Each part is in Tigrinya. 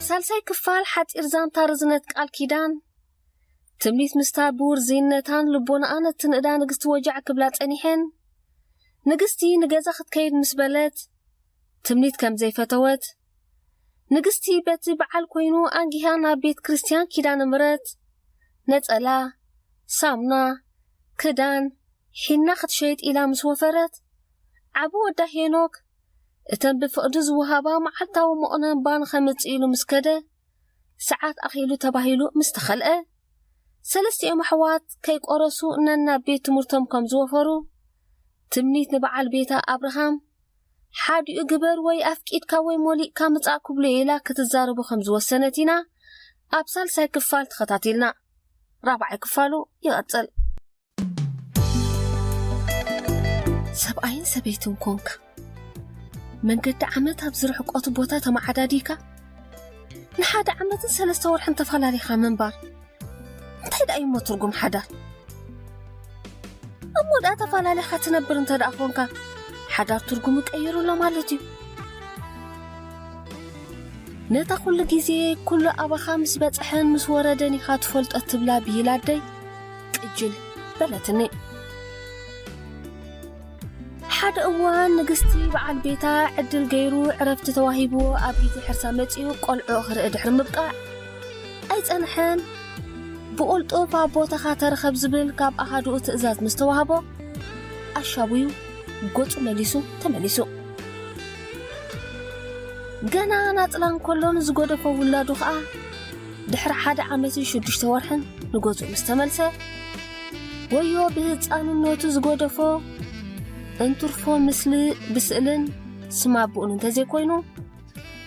ሳልሳይ ክፋል ሓጺር ዛንታ ርዝነት ቃል ኪዳን ትምኒት ምስታ ብውርዝይነታን ልቦናኣን እትንእዳ ንግስቲ ወጃዕ ክብላ ጸኒሐን ንግስቲ ንገዛ ክትከይድ ምስ በለት ትምኒት ከም ዘይፈተወት ንግስቲ በቲ በዓል ኮይኑ ኣንጊሃ ናብ ቤት ክርስትያን ኪዳነ ምረት ነጸላ ሳሙና ክዳን ሒና ክትሸይጥ ኢላ ምስ ወፈረት ዓቢ ወዳ ሄኖክ እተን ብፍቕዲ ዝወሃባ መዓልታዊ መቑነን ባን ከምጽእ ኢሉ ምስ ከደ፣ ሰዓት ኣኺሉ ተባሂሉ ምስ ተኸልአ፣ ሰለስቲኦም ኣሕዋት ከይቆረሱ ነናብ ቤት ትምህርቶም ከም ዝወፈሩ፣ ትምኒት ንበዓል ቤታ ኣብርሃም፣ ሓዲኡ ግበር ወይ ኣፍቂድካ ወይ ሞሊቕካ ምጻእ ክብሎ'የ ኢላ ክትዛረቦ ከም ዝወሰነት ኢና ኣብ ሳልሳይ ክፋል ተኸታቲልና። ራብዓይ ክፋሉ ይቕጽል። ሰብኣይን ሰበይትን ኮንካ መንገዲ ዓመት ኣብ ዝርሕቆቱ ቦታ ተመዓዳዲካ ንሓደ ዓመትን ሰለስተ ወርሕን ተፈላለኻ ምንባር እንታይ ደኣ እዩሞ ትርጉም ሓዳር እሞ ደኣ ተፈላለኻ ትነብር እንተ ደኣ ኮንካ ሓዳር ትርጉሙ ቀይሩሎ ማለት እዩ ነታ ኩሉ ግዜ ኩሉ ኣባኻ ምስ በጽሐን ምስ ወረደን ኢኻ ትፈልጦ ትብላ ብሂል ኣደይ ቅጅል በለትኒ። ሓደ እዋን ንግስቲ በዓል ቤታ ዕድል ገይሩ ዕረፍቲ ተዋሂብዎ ኣብ ጊዜ ሕርሳ መጺኡ ቆልዑ ክርኢ ድሕሪ ምብቃዕ ኣይጸንሐን። ብቑልጡፍ ኣብ ቦታኻ ተረኸብ ዝብል ካብ ኣሃዱኡ ትእዛዝ ምስ ተዋህቦ ኣሻቡዩ ገጹ መሊሱ ተመሊሱ። ገና ናጽላ እንከሎ ንዝጎደፎ ውላዱ ኸኣ ድሕሪ ሓደ ዓመትን ሽዱሽተ ወርሕን ንገዝኡ ምስ ተመልሰ ወዮ ብህፃንነቱ ዝጎደፎ እንትርፎ ምስሊ ብስእልን ስም ኣቦኡን እንተዘይኮይኑ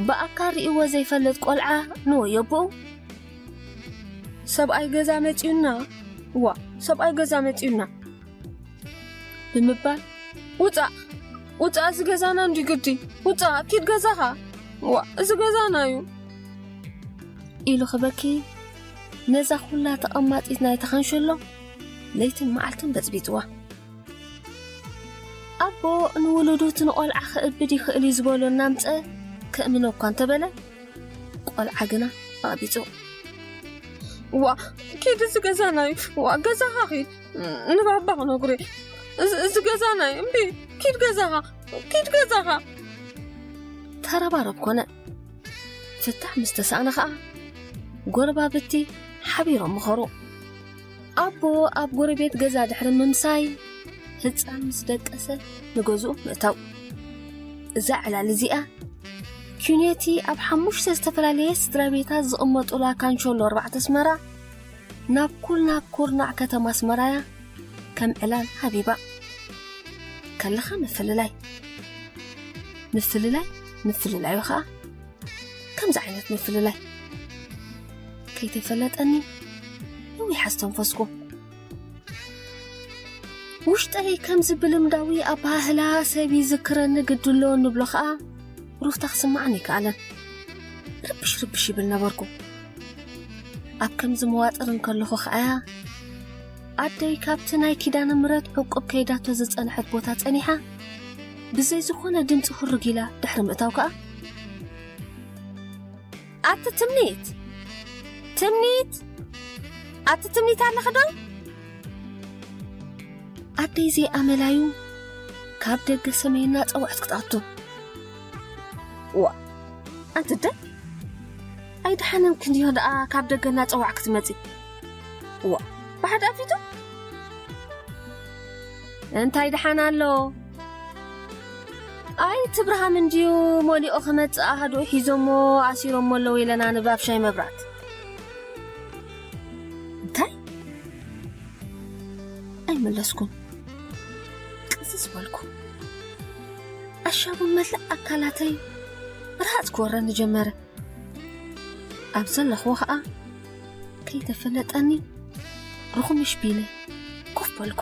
ብኣካል ርእይዎ ዘይፈልጥ ቆልዓ ንወዮ ኣቦኡ ሰብኣይ ገዛ መፂኡና ዋ ሰብኣይ ገዛ መፂኡና ብምባል ውፃእ ውፃእ እዚ ገዛና እንዲዩ ግዲ ውፃእ ኪድ ገዛኻ ዋ እዚ ገዛና እዩ ኢሉ ክበኪ ነዛ ኩላ ተቐማጢት ናይ ተኸንሸሎ ለይትን መዓልትን በፅቢፅዋ ኣቦ ንውሉዱ እቲ ንቆልዓ ክእብድ ይኽእል እዩ ዝበሎ እናምፀ ከእምኖ እኳ እንተበለ ቆልዓ ግና ኣቕቢፁ ዋ ኪድ እዚ ገዛና እዩ ዋ ገዛኻ ኺድ ንባባ ክነግሩ እዚ ገዛ ናይ እምቢ ኪድ ገዛኻ ኪድ ገዛኻ ተረባረብ ኮነ ፍታሕ ምስ ተሳእነ ኸዓ ጎረባብቲ ሓቢሮም ምኸሩ ኣቦ ኣብ ጎረቤት ገዛ ድሕሪ ምምሳይ ህፃን ምስ ደቀሰ ንገዝኡ ምእታው እዛ ዕላል እዚኣ ኪኔቲ ኣብ ሓሙሽተ ዝተፈላለየ ስድራ ቤታት ዝቕመጡላ ካንሾሎ ኣርባዕተ ኣስመራ ናብ ኩርናዕ ኩርናዕ ከተማ ኣስመራያ ከም ዕላል ሃቢባ ከለኻ ምፍልላይ ምፍልላይ ምፍልላይ ኸዓ ከምዚ ዓይነት ምፍልላይ ከይተፈለጠኒ ነዊሕ ኣስተንፈስኩ ውሽጠይ ከምዚ ብልምዳዊ ኣባህላ ሰብ ይዝክረኒ ግድሎ ንብሎ ኸዓ ሩፍታ ክስማዕን ይከኣለን ርብሽ ርብሽ ይብል ነበርኩ ኣብ ከምዚ መዋጥር እንከለኹ ኸኣ ኣደይ ካብቲ ናይ ኪዳነ ምረት ዕቁብ ከይዳቶ ዝጸንሐት ቦታ ጸኒሓ ብዘይ ዝኾነ ድምፂ ሁርግ ኢላ ድሕሪ ምእታው ከኣ ኣቲ ትምኒት ትምኒት ኣቲ ትምኒት ኣለኺ ዶ ኣደይ ዘይኣመላዩ ካብ ደገ ሰመይና ጸዋዕት ክትኣቱ ዋ ኣንቲ ደ ኣይደሓነንክን ድዮ ደኣ ካብ ደገ እናጸዋዕ ክትመጺ እዋ ብሓደ ኣፊቱ እንታይ ደሓን ኣሎ ኣይ እቲ ብርሃም እንድዩ ሞሊኦ ክመጽእ ኣሃድኡ ሒዞሞ ኣሲሮሞ ኣለዉ ኢለና ንባብ ሻይ መብራት እንታይ ኣይመለስኩን ቅስስ በልኩ ኣሻቡ መላእ ኣካላተይ ርሃጽ ክወረኒ ጀመረ ኣብ ዘለኽዎ ኸኣ ከይተፈለጠኒ ርኹምሽ ቢለ ኮፍ በልኩ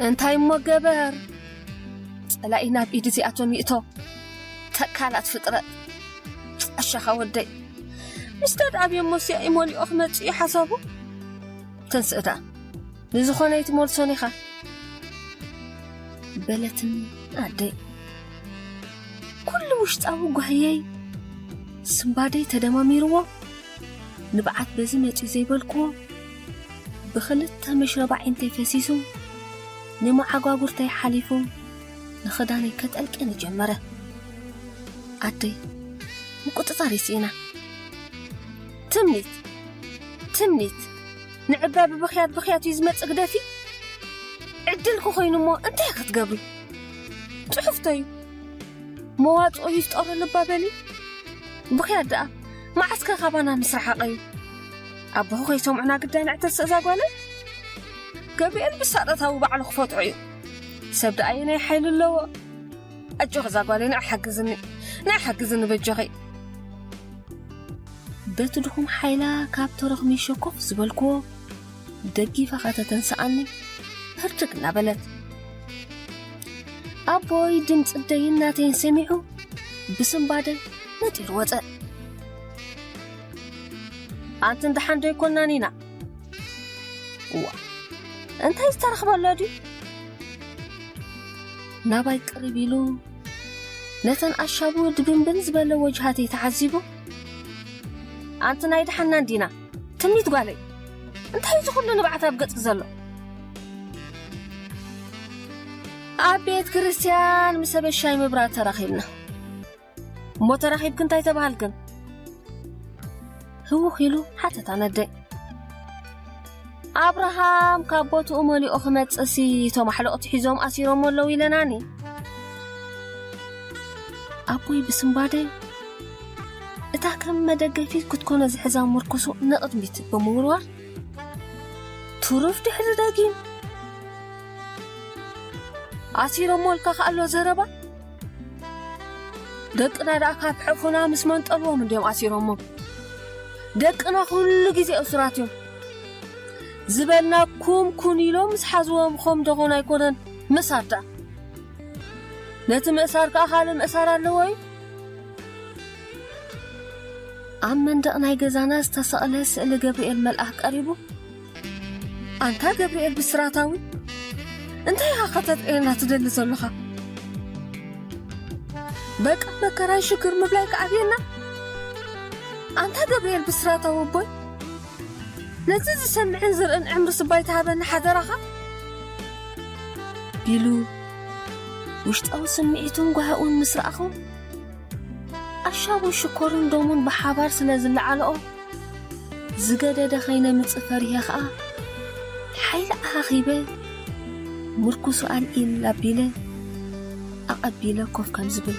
እንታይ እሞ ገበር ጸላኢ ናብ ኢድ እዚኣቶም ይእቶ ተካላት ፍጥረት ኣሻኻ ወደይ ምስ ተድኣብዮ ሞስያ ይመሊኦ ክመጽ እዩ ሓሳቡ ተንስእታ ንዝኾነ ይትመልሶን ኢኻ በለትን ኣደይ ኩሉ ውሽጣዊ ጓህየይ ስንባደይ ተደማሚርዎ ንብዓት በዚ መጺኡ ዘይበልክዎ ብኽልተ መሽረባ ዓይንተይ ፈሲሱ ንመዓጓጉርተይ ሓሊፉ ንኽዳነይ ከጠልቅኒ ጀመረ ኣደይ ምቁጥጣር ይስኢና ትምኒት ትምኒት ንዕባ ብብኽያት ብኽያት እዩ ዝመጽእ ግደፊ ዕድልኩ ኮይኑ እሞ እንታይ ክትገብሪ ፅሑፍተዩ መዋፅኦ ይፍጠሩ ልባ በሊ ብኽያ ደኣ መዓስከ ካባና ምስ ረሓቐዩ ኣቦኹ ከይሰምዑና ግዳይ ንዕተስ እዛ ጓለይ ገብርኤል ብሳጠታዊ ባዕሉ ክፈጥዑ እዩ ሰብ ደኣ የናይ ሓይሊ ኣለዎ ኣጆኺ እዛ ጓለይ ንዕ ሓግዝኒ ንዕ ሓግዝኒ በጆኺ በቲ ድኹም ሓይላ ካብ ተረኽሚ ሸኮፍ ዝበልክዎ ደጊፋ ከተተንስኣኒ ህርድግ እናበለት ኣቦይ ድምፂ ደይን ናተይን ሰሚዑ ብስምባደ ነጢሩ ወፀ ኣንቲ እንዳሓን ዶ ኣይኮናን ኢና እዋ እንታይ ዝተረኽበሎ ድዩ ናባይ ቅሪብ ኢሉ ነተን ኣሻቡ ድብንብን ዝበለ ወጅሃተይ ተዓዚቡ ኣንቲ ናይ ድሓና እንዲና ትምኒት ጓለይ እንታይ እዚ ኩሉ ንብዓት ኣብ ገጽኪ ዘሎ ኣብ ቤት ክርስትያን ምስ ሰበሻይ ምብራት ተራኺብና እሞ ተራኺብክ እንታይ ተባሃልክን ህውኽ ኢሉ ሓተታ ነደይ ኣብርሃም ካብ ቦትኡ መሊኦ ክመጽእሲ እቶም ኣሕለቕቲ ሒዞም ኣሲሮሞ ኣለዉ ኢለናኒ ኣቦይ ብስምባደ እታ ከም መደገፊት ክትኮኖ ዝሕዛ ምርኩሱ ንቕድሚት ብምውርዋር ትሩፍ ድሕሪ ደጊም ኣሲሮሞ ልካ ከኣሎ ዘረባ ደቅና ደኣ ካብ ሕፉና ምስ መንጠልዎም እንዲዮም ኣሲሮሞ ደቅና ኩሉ ግዜ እሱራት እዮም ዝበልናኩም ኩን ኢሎም ምስ ሓዝዎም ኸም ደኾን ኣይኮነን ምእሳር ደኣ ነቲ ምእሳር ከዓ ካልእ ምእሳር ኣለዎ እዩ ኣብ መንደቕ ናይ ገዛና ዝተሰቕለ ስእሊ ገብርኤል መልኣኽ ቀሪቡ ኣንታ ገብርኤል ብስራታዊ እንታይ ኢኻ ከተጥዕየና ትደሊ ዘለኻ በቃ መከራይ ሽግር ምብላይ ከዓብየና ኣንታ ገብርኤል ብስራታዊ ኣቦይ ነዚ ዝሰምዕን ዝርእን ዕምሪ ስባይ ተሃበኒ ሓደራኻ ኢሉ ውሽጣዊ ስምዒቱን ጓህኡን ምስ ረኣኹ፣ ኣሻቡን ሽኮርን ደሙን ብሓባር ስለ ዝለዓልኦ፣ ዝገደደ ከይነምጽእ ፈሪሀ ከኣ፣ ሓይሊ ኣኻኺበ፣ ምርኩሱ ኣልዒል ኣቢለ ኣቐቢለ ኮፍ ከም ዝብል።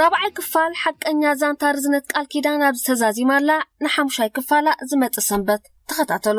ራብዓይ ክፋል ሓቀኛ ዛንታ ርዝነት ቃል ኪዳን ኣብዚ ተዛዚማ'ላ ንሓሙሻይ ክፋላ ዝመጽእ ሰንበት ተኸታተሉ።